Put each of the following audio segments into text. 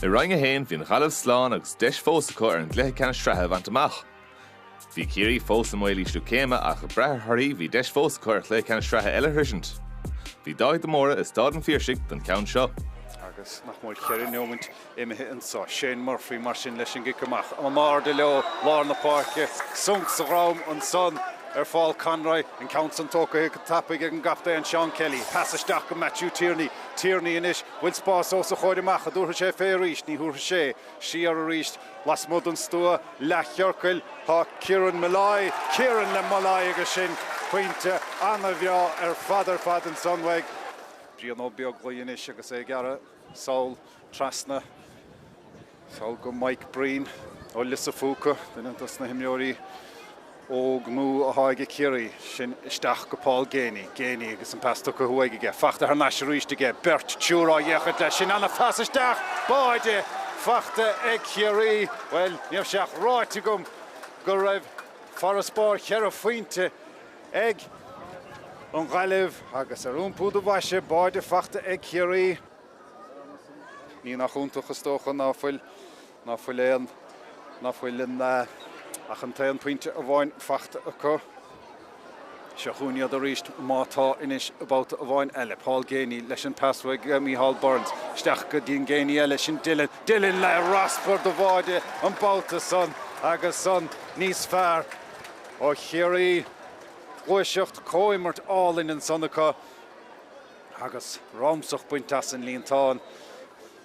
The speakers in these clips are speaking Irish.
I Roinn 1, bhí an Ghaillimh slán agus deis fós acu ar an gcluiche ceannais sraithe a bhaint amach. Bhí Ciarraí fós i mbaol ísliú céime ach ag brath ar thorthaí bhí deis fós acu ar chluiche ceannais sraithe eile a shroisint. Bhí Dáithí de Mórdha i Stáid an Phiarsaigh don cheann seo. Agus nach mór cheithre neomint imithe anseo. Shane Murphy mar sin leis an gcic amach. In airde leo lár na páirce. Sonc sa dhrom ansan ar Phaul Conroy. An ceann san tógtha go tapaidh ag an gcaptaen Seán Kelly. Pas isteach go Matthew Tierney. Tierney anois. Bhfuil spás os a chomhair amach an dtabharfaidh sé fé arís? Ní thabharfaidh sé. Siar arís lasmuigh den stua leathchiorcail tá Kieran Molloy. Kieran le Molloy agus sin pointe ana-bhreá ar fad ar fad ansan uaidh. Brian Ó Beaglaoi anois agus é ag gearradh. Sall trasna, sall go Mike Breen ó Lios a' Phúca, duine dos na himreoirí óg nua athá aige Ciarraí. Sin isteach go Paul Geaney, Geaney agus an pas tugtha uaidh aige, fachta thar n-ais arís aige, beirt triúr á fhéachaint leis, sin ana phas isteach, báide fachta ag Ciarraí. Bhuel, ní raibh sé ach ráite agam go raibh farasbarr cheithre phointe ag an Ghaillimh agus ar iompú do bhaise báide fachta ag Ciarraí. Ní nach iontach, is dócha, ná fuil ná fuil aon ná fuil in ach an t-aon phointe amháin fachta acu. Seo chugainn iad arís, má tá anois, babhta amháin eile. Paul Geaney leis an pas uaidh go Micheál Burns. Isteach go dtí an Geaney eile, sin Dylan. Dylan le raspar do bháide an babhta san agus san níos fearr. Ó Chiarraí, gluaiseacht, comhimirt álainn ansan acu agus ramsach bainte as an líontán.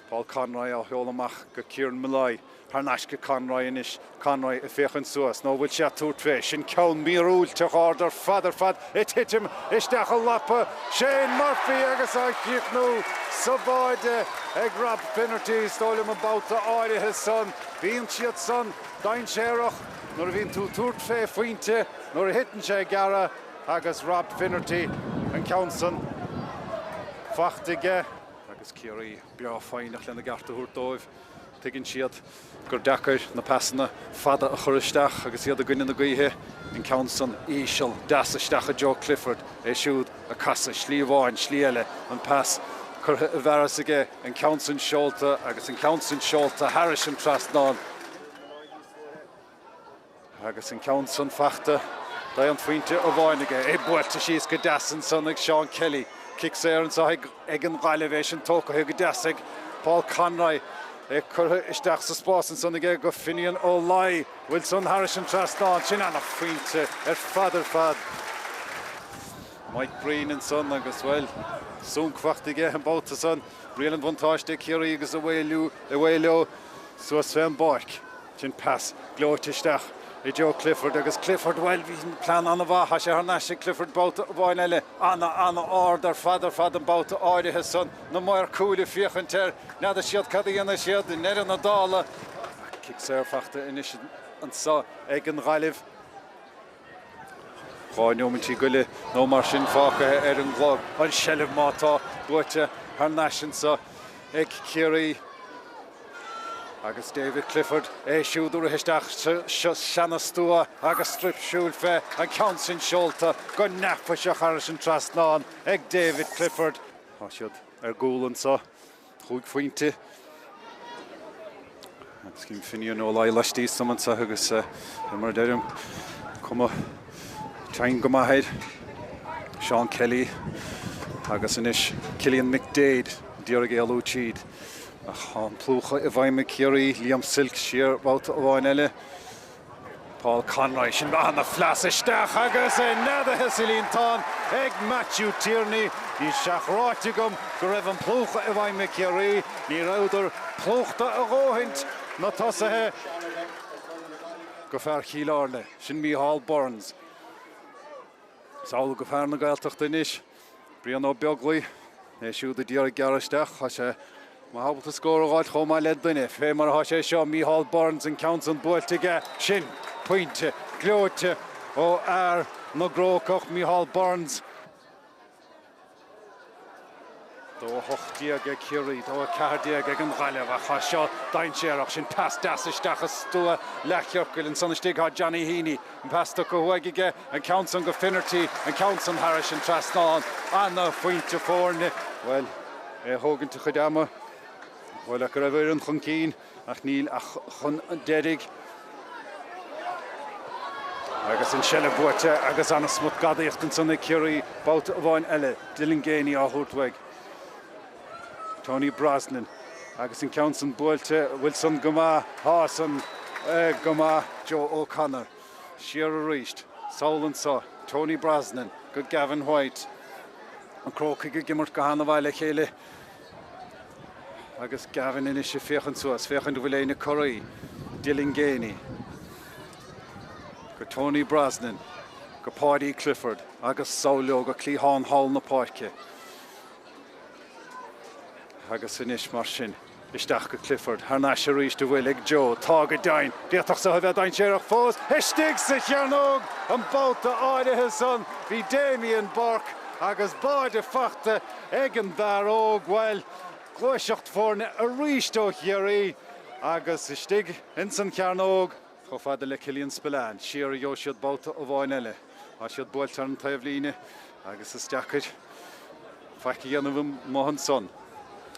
Paul Conroy á sheoladh amach go Kieran Molloy. Thar n-ais go Conroy anois. Conroy ag féachaint suas. Nó an bhfuil sé ag tabhairt fé? Sin ceann míorúilteach ard ar fad ar fad ag titim isteach i lapa Shane Murphy agus á chríochnú sa bháide ag Rob Finnerty. Is dóigh liom an babhta áirithe san bíonn siad san dainséarach. Nuair a bhíonn tú ag tabhairt fé phointe nuair a thiteann sé gearra agus Rob Finnerty an ceann san fachta aige. Agus Ciarraí breá foighneach lena gceart a thabhairt dóibh, tuigeann siad gur deacair na pasanna fada a chur isteach agus iad i gcoinne na gaoithe. An ceann san íseal deas isteach i dtreo Clifford, é siúd ag casadh slí amháin slí eile, an pas curtha i bhfearas aige, an ceann san seolta agus an ceann san seolta thairis an trasnán. Agus an ceann san fachta d'aon fointe amháin aige, é buailte síos go deas ansan ag Seán Kelly. Cic saor anso ag an nGaillimh, é sin tógtha go deas ag Paul Conroy. É curtha isteach sa spás ansan aige go Finian Ó Laoi. Bhfuil san thairis an trasnán. Sin an-phointe ar fad ar fad. Mike Breen ansan agus, bhuel, súnc fachta aige an babhta san. Riail an bhuntáiste ag Ciarraí agus away leo. suas fé an bpáirc. Sin pas gleoite isteach i dtreo Clifford agus Clifford, bhuel, bhí plean an-mhaith, tá sé thar n-ais ag Clifford babhta amháin eile. An-an-ard ar fad ar fad an babhta áirithe san, na maoir cúil ag féachaint air, ní fheadar siad cad a dhéanfaidh siad i ndeireadh na dála. Ach cic saor fachta anois anso ag an Ghaillimh. Dhá neoimintí go leith nó mar sin fágtha ar an gclár, an seilbh má tá buaite thar n-ais anseo ag Ciarraí agus David Clifford é siúd a rith isteach sa stua agus stiúir shiúil fé an gceann sin seolta go neafaiseach thairis an trasnán ag David Clifford. Tá siad ar gcúl anseo. chúig phointe. Sin Finian Ó Laoi laistíos san anseo agus fé mar a deirim cuma teann go maith air. Seán Kelly agus anois Cillian McDaid d'iarraidh éalú tríd ach tá an plúchadh i bhfeidhm ag Ciarraí, Liam Silke siar babhta amháin eile. Paul Conroy, sin an-phas isteach agus é neadaithe sa líontán ag Matthew Tierney. Ní leathráite agam go raibh an plúchadh i bhfeidhm ag Ciarraí. Ní rabhdar plúchta a dhóthaint, na tosaithe, go fear Chill Airne, sin Micheál Burns. Is anall go fear na Gaeltachta anois. Brian Ó Beaglaoi, É siúd a d'iarraidh gearradh isteach, tá sé ábalta scór a dh'fháilt chomh maith le duine, fé mar atá sé seo, Micheál Burns, an ceann san buailte aige sin. Pointe gleoite ó fhear na gCrócach, Micheál Burns. 2-18 ag Ciarraí, 2-14 ag an Ghaillimh ach tá seo dainséarach, sin pas deas isteach i stua an leathchiorcail, ansan istigh tá Johnny Heaney. Pas tabhartha uaidh aige an ceann san go Finnerty, an ceann san thairis an trasnán. Ana-phointe foirne. Bhuel, é a thógaint a chuid ama. Shamhlófá go raibh a fhoireann chun cinn ach níl ach chun deiridh. Agus an seilbh buaite agus ana-smut gadaíocht ansan ag Ciarraí. Babhta amháin eile, Dylan Geaney á thabhairt uaidh. Tony Brosnan, Agus an ceann san buailte, bhuel san go maith, tá san go maith. Joe O'Connor, Siar arís, sall anso, Tony Brosnan go Gavin White, na Crócaigh ag imirt go han-mhaith le chéile agus Gavin anois ag féachaint suas, féachaint an bhfuil éinne ag corraí, Dylan Geaney go Tony Brosnan go Paudie Clifford agus sall leo go cliathán thall na páirce. Agus anois mar sin, isteach go Clifford, thar n-ais arís an bhfuil ag Joe, tá go deimhin! D'fhéadfadh seo a bheith dainséarach fós, istigh sa chearnóg! An babhta áirithe san, bhí Damien Burke agus báide fachta ag an bhfear óg, bhuel, gluaiseacht foirne arís ó Chiarraí, agus istigh ins an chearnóg, Chomh fada le Killian Spillane, siar a gheobhaidh siad babhta amháin eile. Tá siad buailte ar an taobhlíne agus is deacair faic a dhéanamh amuigh ansan.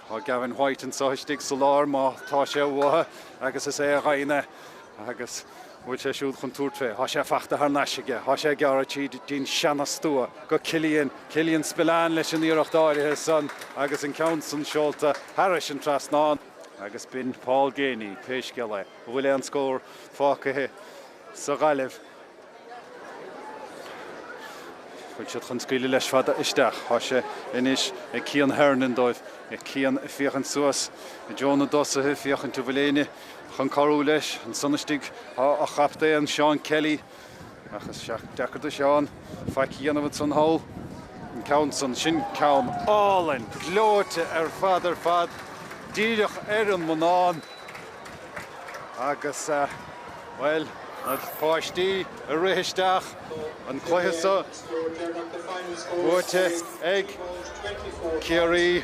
Tá Gavin White anseo istigh sa lár má tá sé uathu agus is é a gheibheann é agus bhfuil sé siúd chun tabhairt fé. Tá sé fachta thar n-ais aige. Tá sé ag gearradh tríd dtí'n seana stua go Killian. Killian Spillane leis an iarracht áirithe san agus an ceann san seolta thairis an trasnán. Agus b'in Paul Geaney, pé scéal é. An bhfuil aon scór fágaithe sa Ghaillimh? An bhfuil siad chun scaoileadh leis fada isteach. Tá sé anois ag Cian Hernon dóibh. Cian ag féachaint suas i dtreo na dtosaithe, féachaint an bhfuil éinne chun cabhrú leis. Ansan istigh tá a chaptaen, Seán Kelly. Ach is deacair do Sheán faic a dhéanamh ansan thall. An ceann san, sin ceann álainn, gleoite ar fad ar fad, díreach ar an mbonnán. Agus, bhuel, na páistí ag rith isteach, an cluiche so buaite ag Ciarraí.